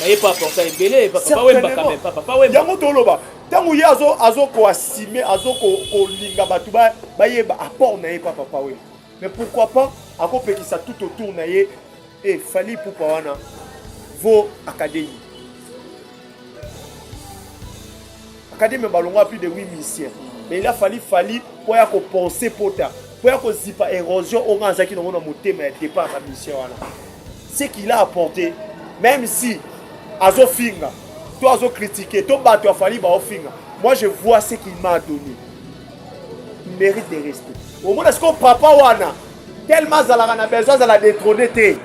baye pa porta ebele papa wemba quand même papa wemba yango toloba ntango ye azokoasime azokolinga bato bayeba apport na ye pa papa wemba mais pourquoi pas akopekisa tout autour na ye e eh, fali pupa wana vo académie Academy balongola plus de 8 musiciens. Mais il a fallu Fally pour ya ko penser pota, pour ya ko zipa érosion au nganza ki nongo na motema ya départ na musicien wana. Ce qu'il a apporté, même si azo finga, to azo critiquer, to bato ya Fally ba ofinga. Moi je vois ce qu'il m'a donné. Il mérite de rester. Au moins est-ce que papa wana tellement azalaka na besoin azala détrôné te.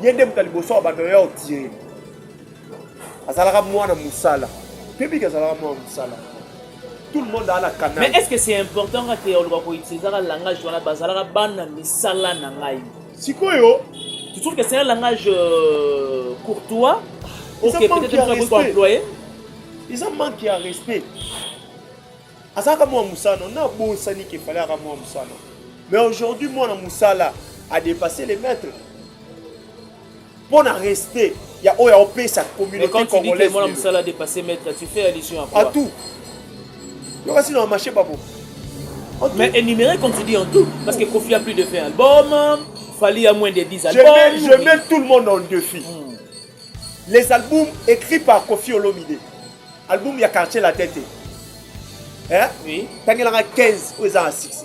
Ye nde moto ya liboso ya bato ya otire. azalaka mwana mosala kebiki azalaka mwana mosala tout le monde a la canal mais est ce que c'est important kaka te oloba koutilisaka langage wana bazalaka bana misala na ngai sikoyo tu trouve que c'est un langage euh, courtois ok peut-être ko employé eza manque ya respect azalaka mwana mosala na bosani ke fale aka mwana mosala mais aujourd'hui mwana mosala a dépassé les maîtres mpo na reste ya oyo aopesa communauté congolaise mwana mosala dépassé maître tu fais allusion à quoi à tout yokasi na marché babo mais énuméré comme tu dis en tout parce que Kofi a plus de 20 albums Fali a moins de 10 albums je mets, je mets tout le monde en défi mm. les albums écrits par Kofi Olomide album ya quartier la tête hein oui tangelanga 15 oyo eza na 6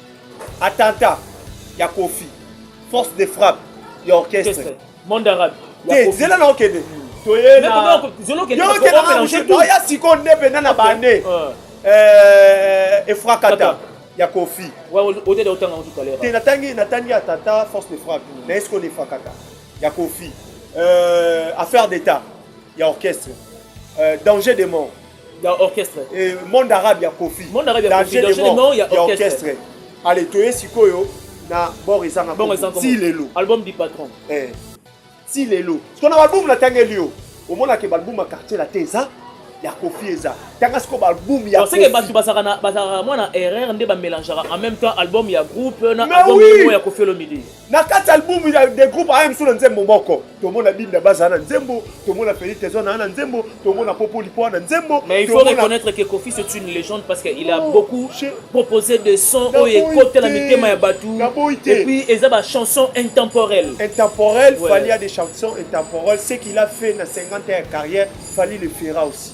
attentat ya kofi force de frappe ya orchestre monde arabe te zela na okende toyeoya sikoyo nde mpenza na bane efrakata ya kofi te natangi natangi attentat force de frappe hmm. na esiko na efrakata ya kofi euh, affaire d'état ya orchestre euh, danger de mort ya orchestre eh, monde arabe ya kofi monde arabe ya kofi danger de mort ya orchestre allez toye sikoyo na bor ezanga bor ezanga ti lelo album du patron eh ti lelo sikoyo na album natangeli yo omonaka album ya quartier la te eza ya kofi eza tanga sikoyo baalbum ya oseke bato bazalaka bazalaka mwa na erreur nde bamelangeaka en même temps album ya groupe na album ya kofi olomide na kati album ya de groupe aya mosusu na nzembo moko tomona binda baza na nzembo tomona Felix tezo na na nzembo tomona popo lipo na nzembo mais il faut reconnaître que Kofi c'est une légende parce qu'il a oh, beaucoup proposé des sons oyo ekota na mitema ya batu et puis eza ba chansons intemporelles intemporelles ouais. Fally a des chansons intemporelles ce qu'il a fait na 50 ans de carrière Fally le fera aussi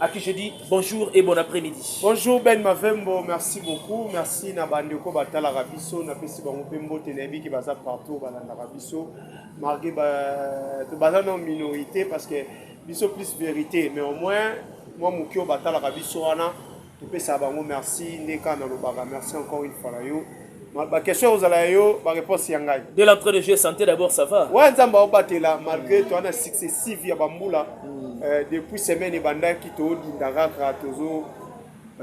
à qui je dis bonjour et bon après-midi. Bonjour Ben Mavembo, merci beaucoup. Merci na bandeko batala rabiso, na pesi bango pe mbote na yebiki baza partout balanda rabiso. Margué ba to baza non minorité parce que biso plus vérité mais au moins moi mukio batala rabiso wana to pesa bango merci ndeka na lobaka merci encore une fois yo. ba question ozala ya yo ba réponse ya ngai de l'entrée de jeu santé d'abord ça va ouais nzambe aobatela malgré toi na successive ya bambula mm. euh, depuis semaine ebandaki todinda kaka tozo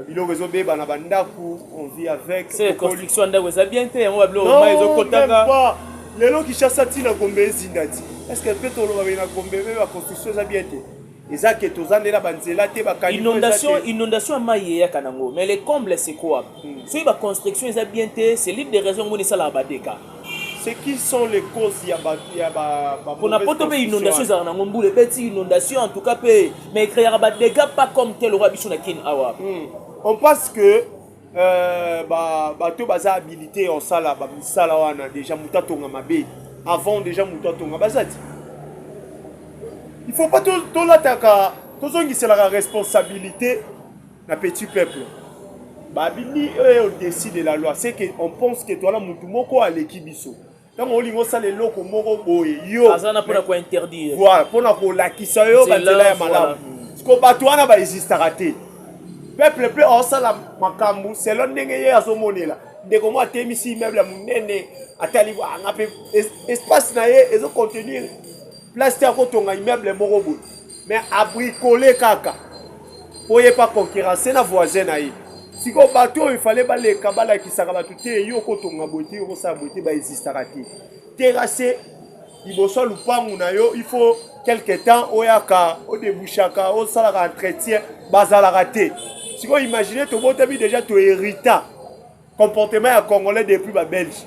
biloko ezobeba na bandako on vit avec c'est construction ndako eza bien te yango babiloko mai ezokotaka lelo kishasa ntina gombe ezinda ti est ce que mpe toloba bena gombe mpe baconstruction eza bien te eza ke toza nde na banzela te bainondation inondation ya mai eyaka nango mais le comble c'est quoi hmm. soki baconstruction eza bien te c'est l'une des raisons ngoni esalaka badeka c'est qui sont les causes ya ba ya ba pona poto mpe inondation ezalaka nango mbula ebeti inondation en tout cas mpe mais ecreaka badega pas comme tel okoya biso na kin awa hmm. on pense que Euh, ba bato baza habilité ya kosala bamisala wana deja moto atonga mabe avant deja moto atonga baza ti il faut pas tolataka tozongiselaka responsabilité na petit peuple babimi oyo au-dessus de la loi c'est que on pense que toala motu moko aleki biso ntango olingi osala eloko moko boye yo aza na mpona kointerdire voilà mpona kolakisa yo banzela ya malamu siko bato wana baexistaka te peuple mpe aosala makambo selo ndenge ye azomonela ndeko moko atemisi immeuble ya monene atali anga mpe espace na ye ezocontenir place te akotonga immeuble moko boye mais abricole kaka po ye pa concurrence na voisin na ye sikoyo bato oyo efale baleka balakisaka bato te yo okotonga boye te yo okosala boye te baexistaka te terase liboso ya lupangu na yo il faut quelque temps oyaka odebushaka osalaka entretien bazalaka te sikoyo imagine tobotami deja toherita comportement ya congolais depuis babelge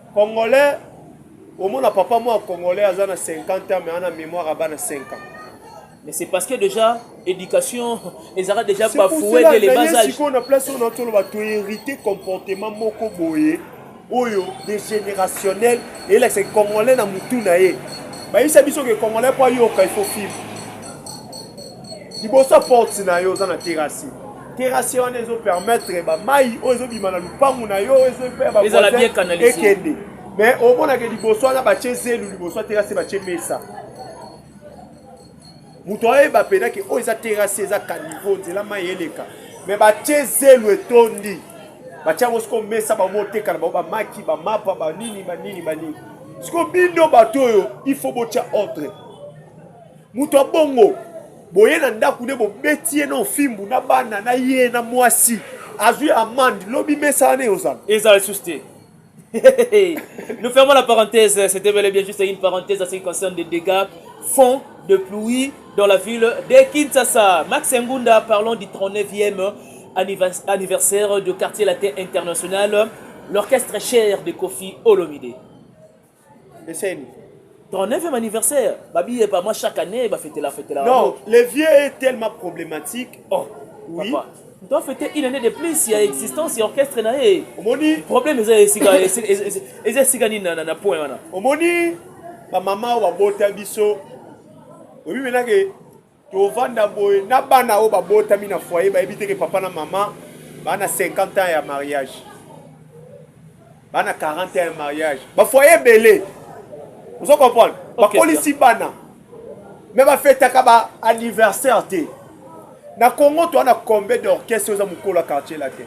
Congolais omona papa moi congolais aza na 50 ans mais ana mémoire à bana 5 ans. Mais c'est parce que déjà éducation ezalaka déjà bafoué dès le bas âge. Sikoyo na place oyo na toloba to hérité comportement moko boye oyo de générationnel eyelakisa congolais na mutu na ye bayisa biso ke congolais mpo ayoka il faut fibre liboso ya porte na yo oza na terasi terasi wana ezo permettre bamai oyo ezobima na lupangu na yo ekende mais omonake liboso wana batie zelu liboso ya terasi batie mesa moto ayeba mpena ke oyo eza terasi eza kanivo nzela mai eleka mais batie zelu etondi batie yango sikoyo mesa bango oteka na bango bamaki bamapa banini banini banini sikoyo bino bato oyo il faut botya ordre Moto ya bongo boye na ndako ne bobeti ye na ofimbu na bana na ye na mwasi azwi amande lobi mesa wana eyozala ezala lisusu te Nous fermons la parenthèse. C'était bel et bien juste une parenthèse à ce qui concerne des dégâts fonds de pluie dans la ville de Kinshasa. Max Ngunda, parlons du 39e anniversaire du quartier latin international, l'orchestre cher de Kofi Olomide. Eseni. Ton 9e anniversaire, babi et pas moi chaque année, ba fêter la fête là. Non, le vieux est tellement problématique. Oh, oui. Papa. doit fêter une année de plus ya existence ya orchestre na ye omoni problème eza esika eza esika nini na point wana omoni bamama oyo babota biso oyebi menake tovanda boye na bana oyo babotami na foyer bayebi te ke papa na mama bana 50 ans ya mariage bana 40 ans ya mariage bafoye ebele ozo comprendre bakolisi bana me bafetaka ba anniversaire te na congo toa na combien d'orchestre oza mokolo ya quartier latin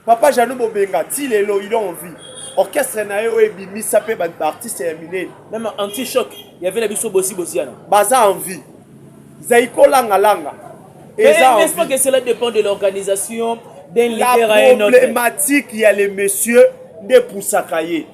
Papa Jeannot Bobenga ti lelo il en vie. Orchestre na ye oyo ebimisa pe ba artistes ya minene. Même anti choc ya vela biso bosi bosiana. Baza en vie. Zaiko langa langa. Eza en vie. Mais pas que cela dépend de l'organisation d'un leader à un autre. La problématique ya les messieurs nde poussaka ye.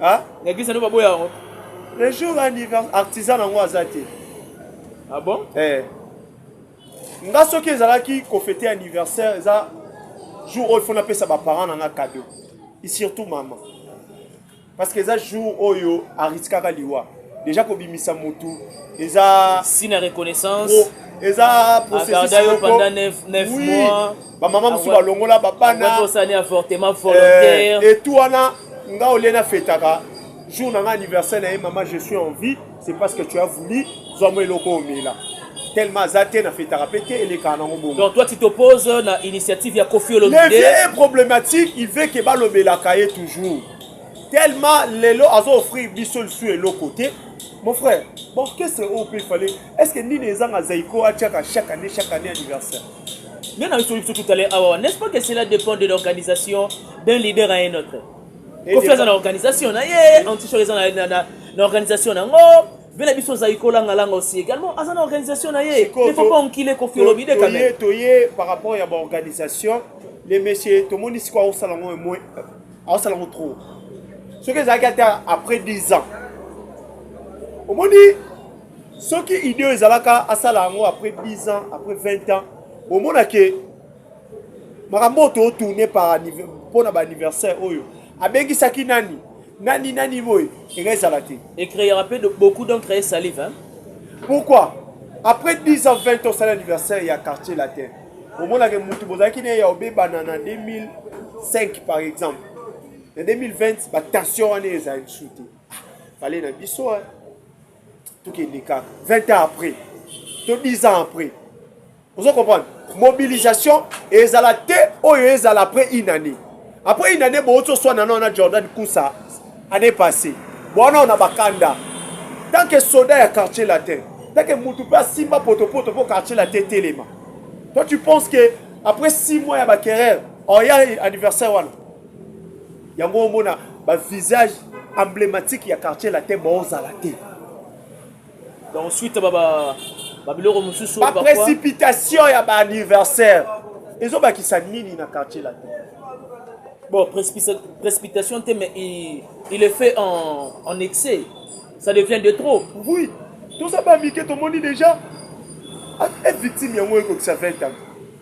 ah na eglise no baboya yango le jour anniversaire artisan nango aza te ah bon eh nga soki ezalaki kofete anniversaire eza jour oyo fo napesa baparent na nga cadeau et surtout mama parce que eza jour oyo ariskaka liwa déjà kobimisa motu eza si na reconnaissance eza processus yo pendant 9 mois bamama mosusu balongola babana eh, etu wana nga olie nafetaka jour na nga anniversaire na ye mama je suis en vie c'est parce que tu as voulu zwa mwa eloko omela tellement aza te nafetaka mpe te elekaka nango bongo donc toi tu t'oppose na initiative ya kofi olomide le vieux problématique il veut ke balobelaka ye toujours tellement lelo azo offrir biso lisusu eloko te mon frère borchestre oyo mpe fale est ce que nini ezanga zaiko atiaka chaque année chaque année anniversaire nde na solution tout à l'heure awa ah, n'est-ce pas que cela dépend de l'organisation d'un leader à un autre kofi aza na organisation na ye antichor eza na organisation na yango mpe na biso ozali kolangalanga aussi également aza na organisation na ye ne faut pas enkile kofi olobi de quand même toye par rapport ya baorganisation le monsieur tomoni sikoyo aosala yango emoi aosala yango trop soki ezalaki ata après 10 ans omoni soki idee oyo ezalaka asala yango après 10 ans après 20 ans omona ke makambo oyo tootourne par mpo na baanniversaire oyo abengisaki nani nani nani boye eka ezala te ecreera mpe beaucoup d'encree salive hein? pourquoi après 10 ans 20 ans osali anniversaire ya quartier latin omonaka motu bozalaki na ye ya obebana na 2005 par exemple na 2020 batension wana ezala lisusu te ah, fale na biso hein? toki elekaka 20 ans après to 10 ans après ozo comprendre mobilisation ezala te oyo ezala après une année après une année bowuti oswana nao na jordan kusa année passé bowana ona bakanda tant que soda ya quartier latin tant que mutu mpe asimba potopoto mpo quartier latin etelema toi tu penses que après 6 mois ya baquerere oya anniversaire wana yango omona bavisage emblématique ya quartier latin baozala te donc suite babiloko mosusu baprécipitation ya baanniversaire ezobakisa nini na quartier latin bon précipitation te mais il, il est fait en, en excès ça devient de trop oui toza bamike tomoni déjà ah, eh, victime yango ekokisa 20 ans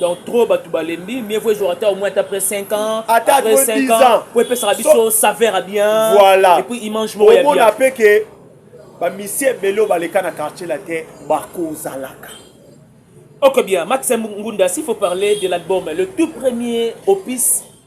donc trop bato balembi mieux vaut ezwaka ata au moins ata après 5 ans ata après 5 ans po epesaka biso saveur ya bien voilà et puis image moko ya bien omona pe ke bamisi ebele oyo baleka na quartier la te bakozalaka ok bien max ngunda s'il faut parler de l'album le tout premier opus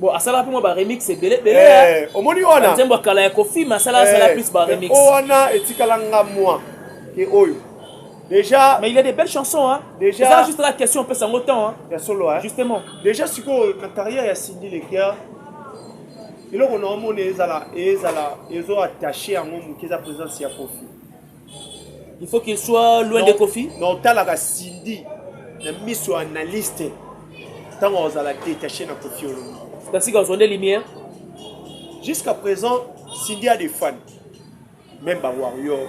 Bon, asala mpe ba remix ebele ebele eh, omoni wana nzembo kala ya kofi ma sala sala eh, plus ba remix o wana etikala nga moi ke oyo déjà mais il y a des belles chansons hein déjà ça juste la question pesa ngo temps hein ya solo hein justement déjà sikoyo na carrière ya Cindy Lekia eloko na omona ezala ezala ezo attaché yango moke eza présence ya kofi il faut qu'il soit loin de kofi na otalaka cindy na miso ya analyste ntango ozala détaché na kofi olomide kasi kozwa nde lumière jusqu'à présent cindy a des fans même ba warrior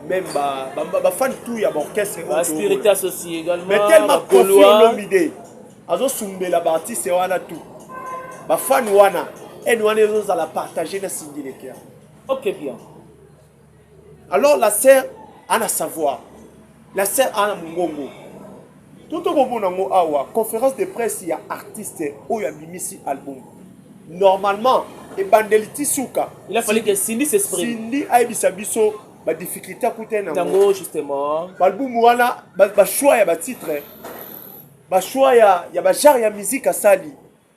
même ba, ba, ba, ba fan tout ya baorchestre ba spirit associé également mais tellement kofi olomide azosumbela baartiste wana tout bafani wana ene wana ezozala partage na cindy lekea ok bien alors la sœur ana savoir la sœur ana mongongo to tokomona yango awa conférence de presse ya artiste oyo abimisi album normalement ebandeli ti suka il a fallu que Cindy s'exprime Cindy ayebisa biso ba difficulté akuta na yango justement balbumu wana ba choix ya ba titre ba choix ya ya ba genre ya musique asali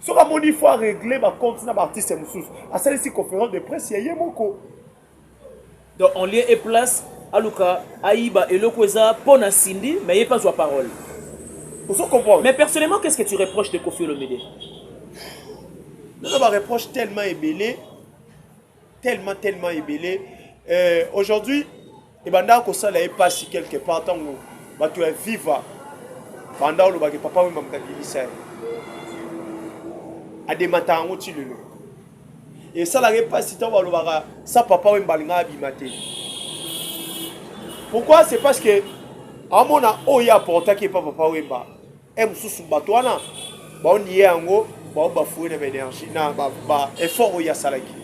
soki amoni faut aregle bacompte na baartiste mosusu asalisi conférence de presse ya ye moko donc en lieu et place aluka ayiba eloko eza mpo na sindi mais ye mpe azwa parole ozo comprendre mais personnellement qu'est ce que tu reproches de kofi olomide naza bareproche tellement ebele tellement tellement ebele euh, aujourd'hui ebandaka kosala ye mpasi quelque part ntango bato ya viva banda olobaki papa wemba moto abimisa ye ademataka yango ti lelo esalaka ye mpasi ntango balobaka sa papa wemba alinga abima te pourquoi c'est parce que amona oyo aportaki epa papa wemba Heure mosusu bato wana baoniye yango bao bafoue na baénergie na baeffort oyo asalaki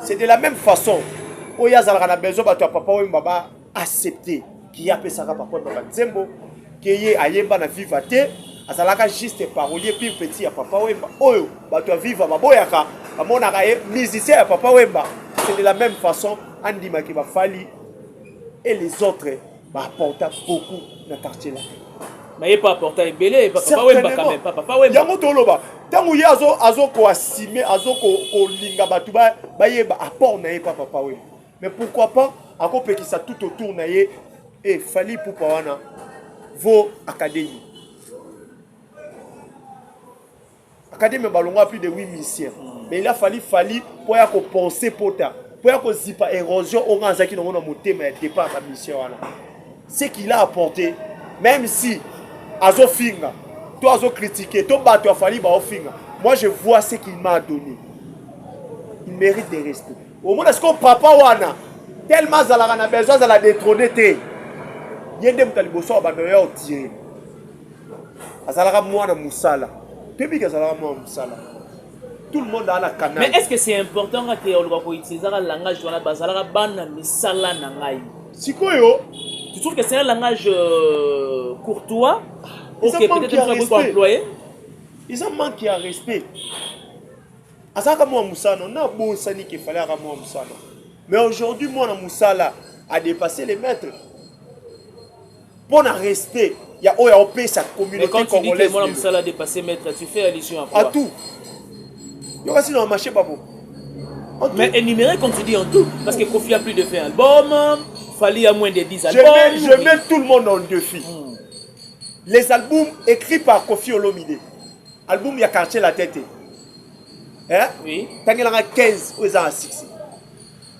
c'est de la même façon oyo azalaka na besoin bato ya papa wemba ba accepte kiye apesaka papa wemba banzembo keye ayemba na viva te azalaka juste parolier pire petit ya papa wemba oyo bato ya viva baboyaka bamonaka ye musicien ya papa wemba c'est de la même façon andimaki bafali et les autres Ba apporta beaucoup na quartier latin. Maye pa apporta ebele papa Certainement. wemba quand même papa pa wemba. yango toloba ntango ye azo azo koasime azo ko- kolinga bato ba- bayeba apport na ye pa papa wemba mais pourquoi pas akopekisa tout autour na ye e fali pupa wana vo académie Academy balonga plus de 8 musiciens. Mm. Mais il a fallu Fally pour ya ko penser pota, pour ya ko zipa érosion au grand zaki na mona motema ya départ ya mission wana. Ce qu'il a apporté, même si azo finga, to azo critiquer, to bato ya Fally ba ofinga. Moi je vois ce qu'il m'a donné. Il mérite de rester. Au moins est-ce que papa wana tellement azalaka na besoin azala détrôné te. Ye nde moto ya liboso ya bando ya otire. azalaka mwana mosala tebiki azalaka mwana mosala tout le monde a la canal mais est ce que c'est important kaka te oloba koutilisaka langage wana bazalaka bana misala na ngai sikoyo tu trouve que c'est un langage euh, courtois ok peut-être employé eza manque ya respect azalaka mwana mosala na bosani ke fale aka mwana mosala mais aujourd'hui mwana mosala a dépassé les maîtres mpo na respect ya oyo aopesa communauté congolaise mwana mosala dépassé maître tu fais allusion à quoi à tout yo kasi na marché babo mais énuméré comme tu dis en tout parce que Kofi a plus de 20 albums Fally a moins de 10 albums je mets, je mets tout le monde en défi hmm. les albums écrits par Kofi Olomide album ya quartier la tête hein oui tangelanga 15 oyo eza na 6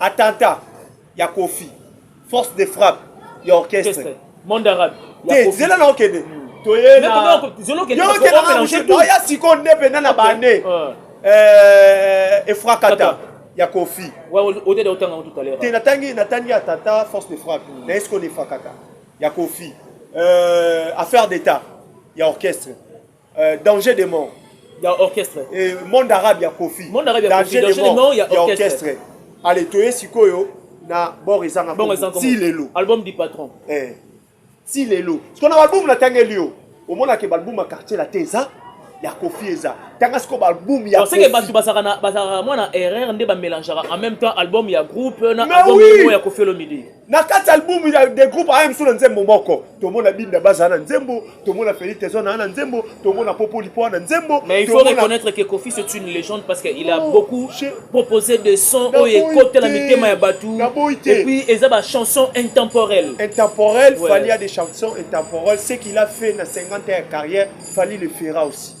attentat ya kofi force de frappe ya orchestre monde arabe te zela na okende hmm. toye na oya sikoyo nde mpenza na bane efrakata ya kofi te natangi natangi attentat force de frappe hmm. na esiko na efrakata ya kofi euh, affaire d'état ya orchestre euh, danger de mort ya orchestre eh, monde arabe ya kofi monde arabe ya kofi danger de mort ya orchestre allez toye sikoyo na bord ezanga ti lelo album du patron eh ti lelo sikoyo na album na tangeli yo omonaka balbum ya quartier la te eza ya kofi eza tanga sikoyo balbum ya seke bato bazalaka mwana erreur nde bamelangeaka en même temps album ya groupe na album ya kofi olomide na kati ya albumu ya de groupe aya mosusu na nzembo moko tomona binda baza na nzembo tomona feli tezo na na nzembo tomona popo lipo na nzembo mais il faut tomona... reconnaître que kofi c'est une légende parce que il a oh, beaucoup je... proposé des sons oyo ekotela mitema ya bato et puis eza ba chanson intemporelle intemporelle ouais. fali a des chansons intemporelles ce qu'il a fait na 50 ans ya carrière fali le fera aussi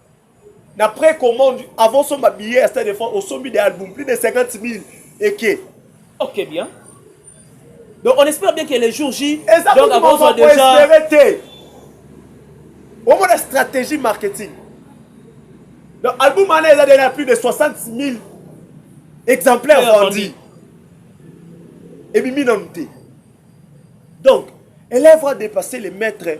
na précommande avant somba billet ya stade de france osombi de album plus de 50 000 eke ok bien donc on espère bien que les jours j eza donc akozwa déjà espérer te omona stratégie marketing donc album wana eza déjà plus de 60 000 exemplaires vendus ebimi nanu te donc élève a dépassé les maîtres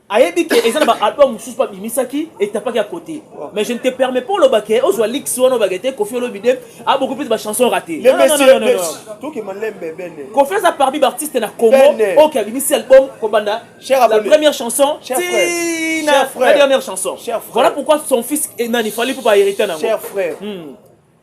ayebi ke eza na ba album mosusu mpe abimisaki etapaki ya cote mais je ne te permets pas oloba ke ozwa lix wana obaka te kofi olobi de aboki mpe bachanson rate kofi aza parmi baartiste na congo oke abimisi album kobanda la première chanson tina la dernière chanson voilà pourquoi son fils enani fali mpo bahérite nango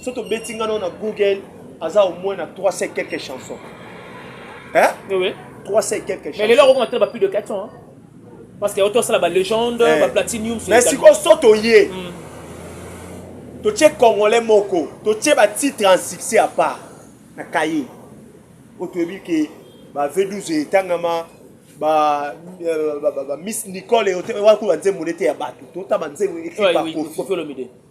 soki tobeti nga nao na google aza au moins na 3 se quelques chansons hein? oui. 3 se quelques chansons mais lelo akokoma tela ba plus de 400 hein? parce que auto asala ba légende eh. ba platinium mais sikoyo so toye mm. totie congolais moko totie batitre en succès à part na kaye oyo toyebi ke ba v12 etangama ba, euh, ba, ba, ba miss nicole eote wakuba nzembo nete ya bato totaba nzembo ekipa kofi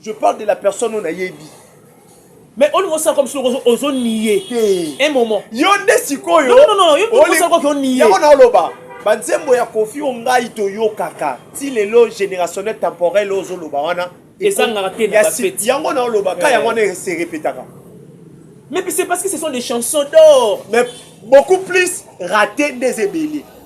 je parle de la personne oyo nayebi mais olingi osala comme soko ozoniye un moment yo nde sikoyo olingi oniye yango naoloba banzembo ya kofi oyo ngai toyokaka ti lelo générationnel temporel oyo ozoloba wana ezangaka te na bafeti yango naoloba ka yango wana se repetaka mais c'est parce que ce sont des chansons d'or mais beaucoup plus raté nde eza ebele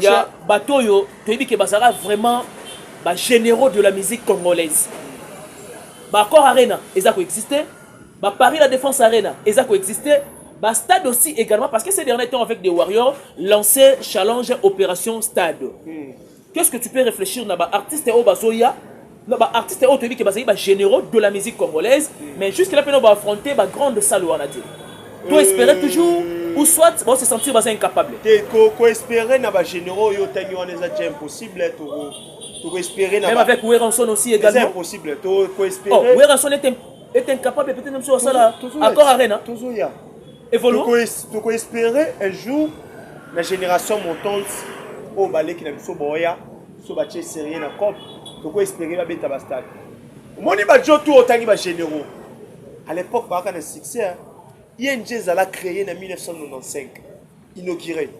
ya bato oyo toyebi ke bazalaka vraiment ba généraux de la musique congolaise baaccord arena eza koexiste baparis la défense arena eza koexiste bastade aussi également parce que ces dernier temps avec des warriors lancé challenge opération stade mm. Qu'est-ce que tu peux réfléchir na ba artistes oyo bazoya na ba artistes oyo toyebi ke bazali ba généraux de la musique congolaise mais jusque là pena ba affronter ba grande salle wana te to espérer toujours euh, ou soit ba se sentir baza incapable te ko ko espérer na ba généraux oyo tangi wana eza déjà impossible to to espérer na même avec Werrason aussi également c'est impossible to ko espérer oh Werrason est est incapable peut-être même sur la salle accord arena toujours ya evolue toko espérer un jour na génération montante oyo baleki na biso boya so batie serie na cop toko espérer babeta bastade omoni bajo tu otangi bagénéraux à l'époque baaka na succès ing ezala créé na 1995 inauguré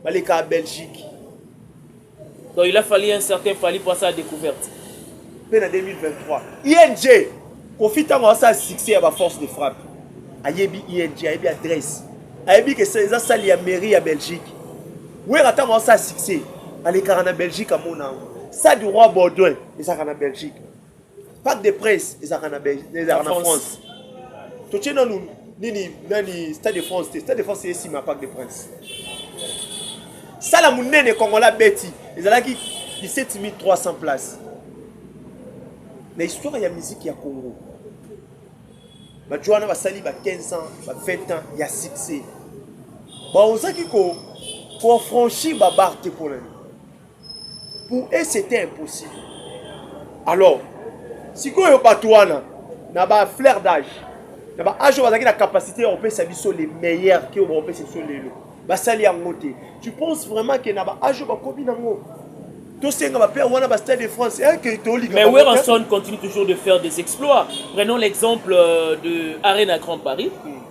baleka belgique Donc il a fallu un certain Fally pour sa découverte. Mpe na 2023, ING Kofi ntango asala succès ya ba force de frappe ayebi ING ayebi adresse ayebi ke eza sali ya mairie ya Belgique. Wera ntango asala succès alekaka na Belgique amona yango. Stade Roi Baudouin ezalaka na Belgique. Pack de presse ezalaka na Belgique, ezalaka na France. Totie nanu nini nani Stade de France te. Stade de France esi ma Pack de Prince. Sala munene Kongola beti ezalaki 17300 places. Na histoire ya musique ya Congo. Bato wana basali ba 15 ans, ba 20 ans ya succès. Baozaki ko ko franchir ba barre te mpo na nini? pour eux c'était impossible alors sikoyo bato wana na ba flair d'age na ba age oyo bazalaki na capacité ya kopesa biso le meilleur ke oyo bakopesa biso lelo basali yango te tu penses vraiment ke na ba age oyo bakomi nango tosenga bape wana ba stade de france eke tolika mais werrason continue toujours de faire des exploits prenons l'exemple euh, de arena grand paris mm.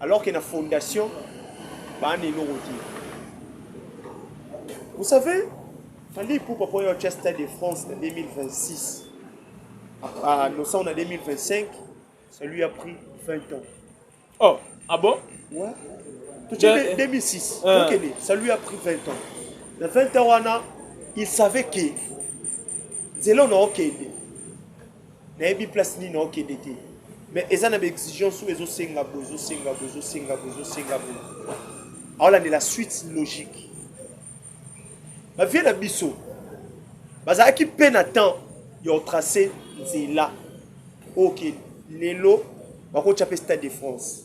Alors que na fondation ba na eloko te. Vous savez, Fally Ipupa mpo ya otya Stade de France na 2026 à Nosan na 2025, ça lui a pris 20 ans. Oh, ah bon Ouais. Tu De- sais, 2006, Euh. donc elle est- ça lui a pris 20 ans. Na 20 ans wana, il savait que nzela ona okende nayebi place nini naokende te mais eza na baexigence oyo ezosenga boye ezosenga boye ezosenga boye ezosenga boye aolandela suite logique bavie na biso bazalaki mpe na temps ya otrace nzela oyo okay. lelo bakotya mpe stade de france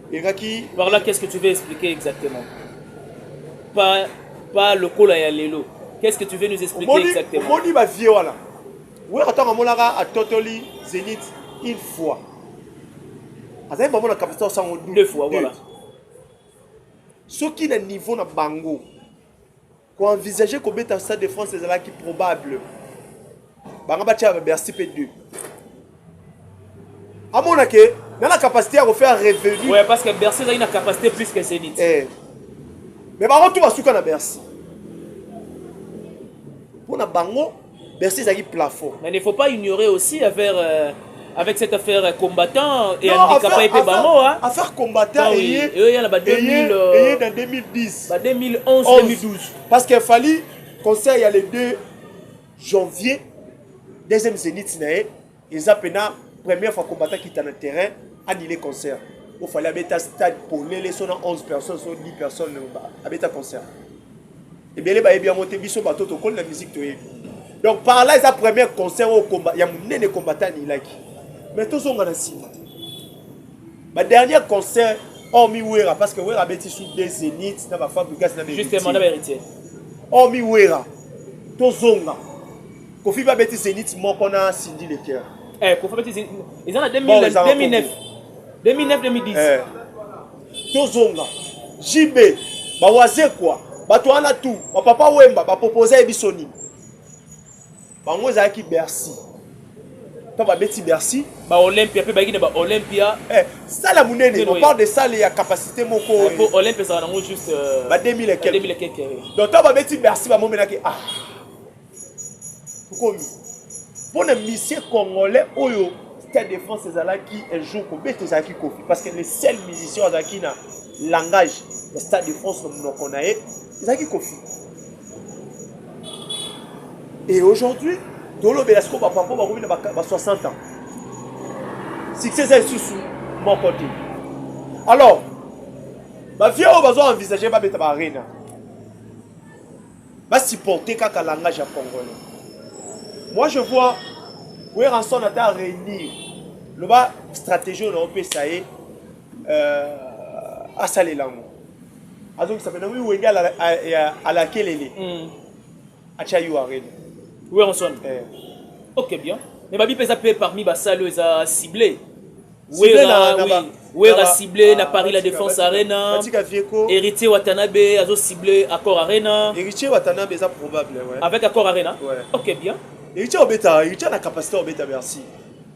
ekaki par là qu'est-ce que tu veux expliquer exactement pas pas lokola ya lelo qu'est-ce que tu veux nous expliquer Omoni- exactement omoni bavie wana wera ntango amonaka atotoli zenith une fois azali bamona kapasite osango Deux fois, voilà. soki na niveau na bango Ko envisager ko beta Stade de France ezalaki probable. Banga ba tia ba Bercy pe 2. Amona ke na la capacité à refaire revenu. Ouais parce que Bercy a une capacité plus que Zenith. Eh. Mais bango tout basuka na Bercy. Pona bango bercy ezalaki plafond mais ne faut pas ignorer aussi affaire euh, avec cette affaire euh, combattant et handicapé mpe bango affaire combattant eye eya na ba 2000 eye na 2010 ba 2011 2012 parce que fali conseil ya le 2 janvier deuxième zénith na ye Eza pena première fois combattant kita na terrain annule concert. Il fallait abeta stade polele so na 11 personnes so 10 personnes abeta concert. Ebele bayebi yango te biso bato tokoli na musique toyebi. Donc par là eza premier concert au combat ya munene combattant anilaki. Mais tozonga na nsima. Ba dernier concert hormis Wera parce que Wera abeti sous des zéniths na ba Fabricas na ba Justement na ba héritiers. Hormis Wera tozonga Kofi ba beti Zenith moko na Cindy le cœur. Eh Kofi beti Zenith. Ils en a 2009 2009 2009 2010. Eh. Tozonga. JB ba waze quoi. Bato wana tout. Ba papa Wemba ba proposer biso nini? Bango ezalaki Bercy. mpo babeti bercy baolympia mpe bayaki na baolympia eh, sala monene on parle de sale ya capacité moko eh, mpo olympia ezala nango juste euh, ba 2000 ekeke donc ntango babeti bercy bamomenaki ah okomi mpo na misie congolais oyo stade de france ezalaki un jour kobeta ezalaki kofi parce que le seul musicien azalaki na langage ya stade de france na monoko na ye ezalaki kofi et aujourd'hui tolobela sikoyo bapapa bakomi na ba 60 ans succès eza lisusu moko te alors bavie oyo bazo envisage babeta baarena Ba supporter kaka langage ya congolais. Moi je vois Werrason ata réunir loba stratégie oyo naopesa ye euh, asalela yango azongisa pena wi wenge alakelele mm. atya yo arena Werrason eh. ok bien mais babi mpe eza mpe parmi basali oyo eza cible Wera, oui. Wera ciblé na Paris la Défense Arena. Héritier Watanabe azo ciblé Accord Arena. Héritier Watanabe ça probable ouais. Avec Accord Arena. Ouais. OK bien. Héritier Obeta, Héritier na capacité Obeta merci.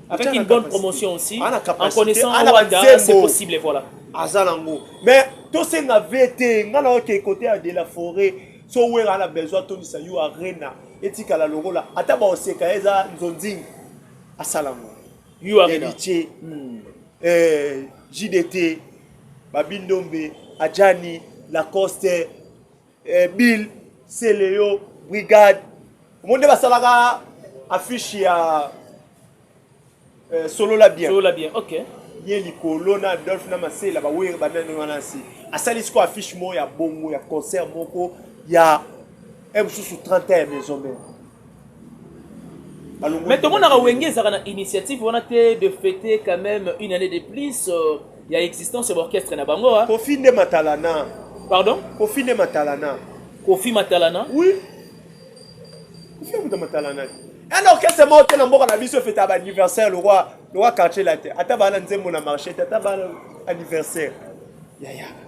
Avec une bonne promotion aussi. Ah, en connaissant Rwanda, c'est possible voilà. Azalango. Mais tout c'est na VT, ngana OK côté de la forêt. So Wera a besoin Tony Sayou Arena. Etikala lokola ata baoseka eza nzonzingi asalango yo arena héritier hmm. euh, jdt babindombe adjani lacoste euh, bill celeo brigade omoni nde basalaka affiche ya euh, solola bien solola bien ok ye likolo na adolphe na masela bawere banani wana nse asali sikoyo affiche moko ya bongo ya concert moko ya mosusu 30 ya maison mère mais tomonaka wenge ezalaka na initiative wana te de fêter quand même une année de plus euh, ya existence ya baorchestre na bango hein. kofi nde matalana pardon kofi nde matalana kofi matalana oui kofi amuta matalana un orchestre moko te na mboka na biso efeta baanniversaire lokwa lokwa quartier la te ata baa na nzembo na marché te ata baa na anniversaire yaya yeah, yeah.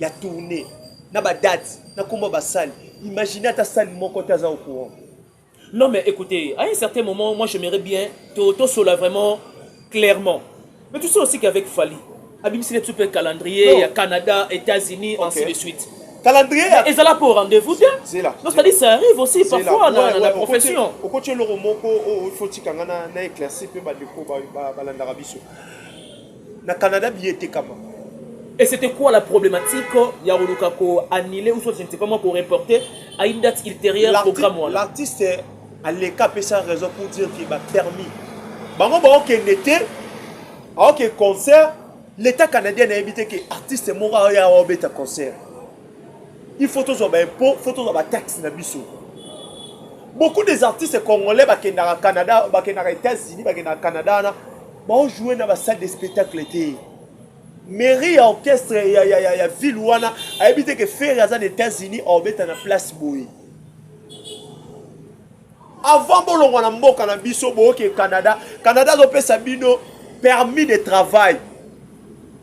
ya tourne na badate na nkombo ya basale imagine ata sale moko te aza au courant non mais écoutez à un certain moment moi j'aimerais bien tosola vraiment clairement mais tu sais aussi qu'avec fali abimiseli biso mpe calendrier ya canada états-unis okay. ainsi de suite calendrier ezala mpo rendez-vous te c'est-à-dire ça arrive aussi parfois na, na profession okoti eloko moko oyo oh, oh, ifotika nga na éclairci mpe bandeko balandaka biso Na Canada billet etekama. Et c'était quoi la problématique ya koluka ko annuler ou soit je ne sais pas moi ko reporter à une date ultérieure programme wana. L'artiste aleka apesa raison pour dire que ba permis bango baokende te aoke concert l'état canadien nayebi te ke artiste moko aoya awa obeta concert il faut tozwa baimpôt faut tozwa bataxe na biso beaucoup des artistes congolais bakendaka canada bakendaka états-unis bakendaka canada wana Bao jouer na ba salle de spectacle te. Mairie ya orchestre ya ya ya, ya ville wana ayebi te que Ferre aza na États-Unis obeta na place boye. Avant bolongwa na mboka na biso boke Canada, Canada azopesa bino permis de travail.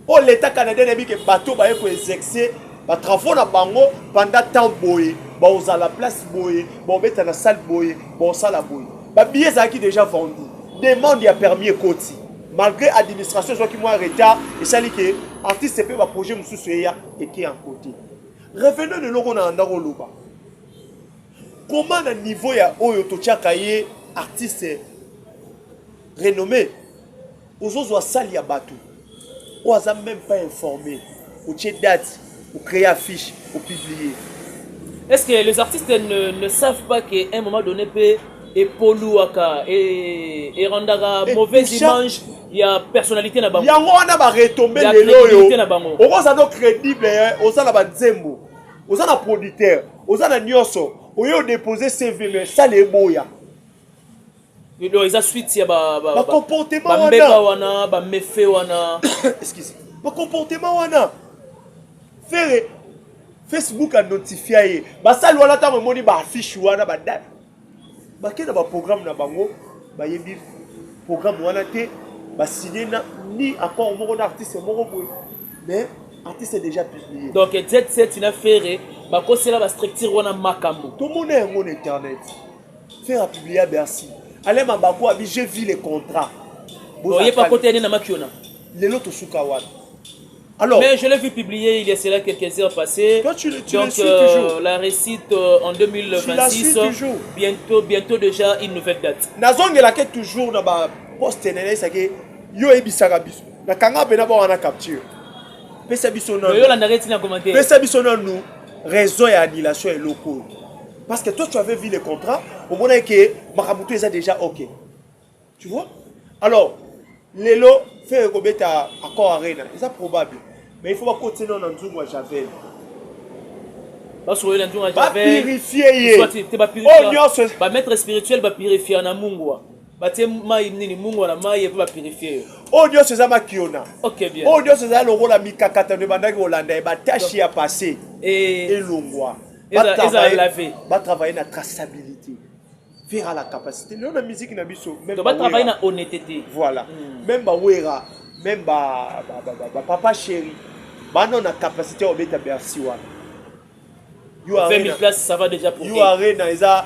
Au l'État canadien nayebi ke bateau baye ko exercer ba travaux na bango pendant temps boye baozala place boye baobeta na salle boye baosala boye babillet ezalaki déjà vendu demande ya permis ekoti malgré administration ezwaki mwa retard esali ke artiste mpe baprojet mosusu eya eke en côté revenons na eloko na ndako oloba comment na niveau ya oyo totyaka ye artiste renommé ozozwa salle ya bato oyo aza meme pas informe otie date ocree affiche opublie est ce que les artistes ne, ne savent pas qu'à un moment donné mpe epoluaka erandaka e, e mauvaise image ya personnalité na bango yango wana baretombe lelo oyo okozala no crédible eh, oza na banzembo oza na producteur oza na nyonso oye odepose cv me sala eboya donc eza suite ya bambeba wana bamefe wana excuse bacomportement wana fere facebook anotifia ye basali wana ntango emoni baaffiche wana badate bake na baprogramme na bango bayebi programme wana te basigne na ni accord moko na artiste moko boye mais artiste est déjà publié donc z7 na fere bakosela bastructure wana makambo tomona yango na internet Ferre a publia Bercy. Alain Mabaku abi j'ai vu les contrats. Oye pa kote na makiona. Lelo to suka wapi? Alors, mais je l'ai vu publier il y a cela quelques heures passées. Toi, tu, le, tu Donc, le suis euh, toujours. la récite euh, en 2026. toujours. Bientôt, bientôt déjà une nouvelle date. Nazongela ke toujours na ba poste na nesa ke yo ebisaka biso. Na kanga pe na ba wana capture. Pesa biso na. Yo la nareti na commentaire. Pesa biso na nous raison ya annulation eloko. Parce que toi, tu avais vu le contrat, au moins que Makabuto est déjà OK. Tu vois Alors, Lelo fait un accord arena, c'est probable. Mais il faut pas côté non en Zuma Javel. basokolela nzungu ya javelbamettre spirituel bapurifie ya na mungwa batie mai nini mungwa na mai epe bapurifie yo oyo nyonso eza makiona oyo nyonso eza lokola mikakatano ebandaki kolanda ye batashi ya passe elongwa ba travailler na traçabilité faire à la capacité lelo na musique na biso même ba travailler na honnêteté voilà hmm. même ba wera même ba ba papa chéri bana na capacité obeta bercy wana yo arena ça va déjà pour yo arena eza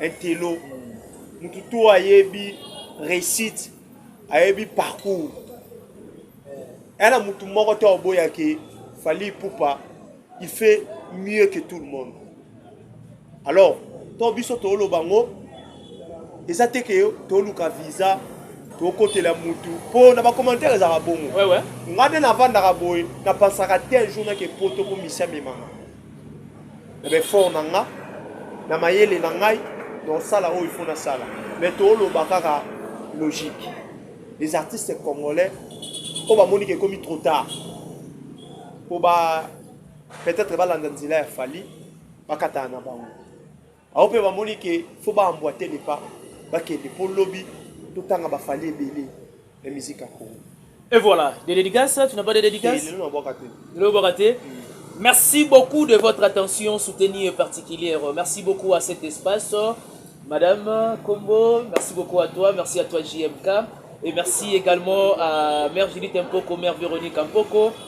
Intello. Mutu to ayebi réussite, ayebi parcours. Elle a mutu moko to boya ke Fally Poupa, il fait mieux que tout le monde. Alors, to biso to lo bango eza te ke to luka visa tokotela mutu mpo na bacommentaire ezalaka bongo ngai nde navandaka boye napansaka te un jour nake poto mpo misi amemanga na baeffort na nga na mayele na ngai naosala oyo ifo nasala mais tooloba kaka logique les artistes congolais oyo bamoni ke ekomi trop tard mpo ba peut-être balanda nzela ya fali bakatana na bango Bango mpe bamoni ke fo ba emboite le pas bakende mpo lobi totanga ba Fally ebele na musique ya Congo. Et voilà, des dédicaces, tu n'as pas de dédicaces Lelo nabwaka te. Lelo obwaka te Merci beaucoup de votre attention soutenue et particulière. Merci beaucoup à cet espace. Madame Combo, merci beaucoup à toi. Merci à toi JMK. Et merci également à Mère Judith Mpoko, Mère Véronique Mpoko.